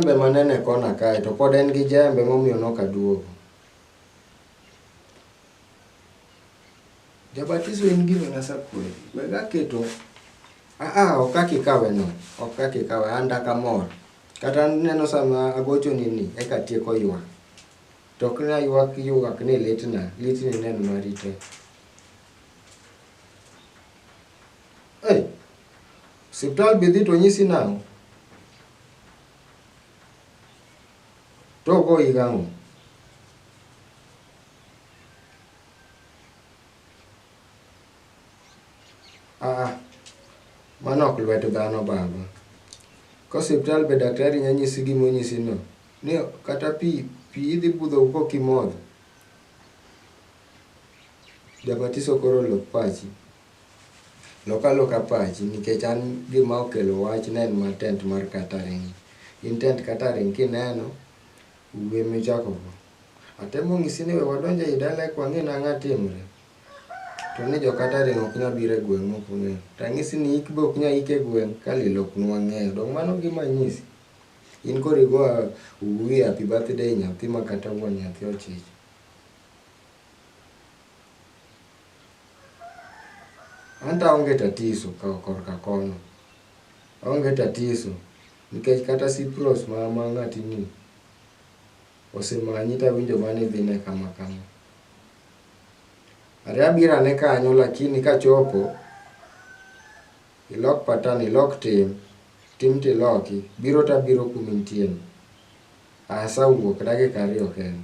jembe manene kona kae to pod en gi jembe momiyo nok aduogo. Jabatiso in gima nasa kweli. Wega keto aa ok kaka ikawe no. Ok kaka ikawe an dak amor. Kata neno sama agocho ni ni eka tieko ywak. To ok na ywak ywak ni litna. Litni neno marite. Hey, osiptal be idhi to onyisi nang'o? To ogoyi gang'o? Aa, mano ok lwet dhano baba. Ka osiptal be daktari nya nyisi gima onyisi no, ni kata pi pi idhi budho go kok imodho. Jabatiso koro lok pachi. Lok aloka pachi nikech an gima okelo wach ne en mar tent mar catering. In tent catering kineno, wuwi ema ichako go. Atemo nyisi ni we wadonj ei dala eka wang'e ni ang'o timre. To ni jo catering ok nyal biro e gweng' maok ong'eyo. To anyisi ni ik be ok nyal ik e gweng' ka lil ok nwa ng'eyo. Donge mano e gima anyisi? In koro igo wuwi happy birthday nyathi makata wuon nyathi ochich. Anto aonge tatiso korka kono. Aonge tatiso nikech kata Cyprus ma ng'atini osemanyi tawinjo mana ni idhine kama kama. Are abiro ane kanyo lakini kachopo, ilok patan, ilok tim, tim tiloki, biro tabiro kuma intieno. Asawuok dakika ariyo kende.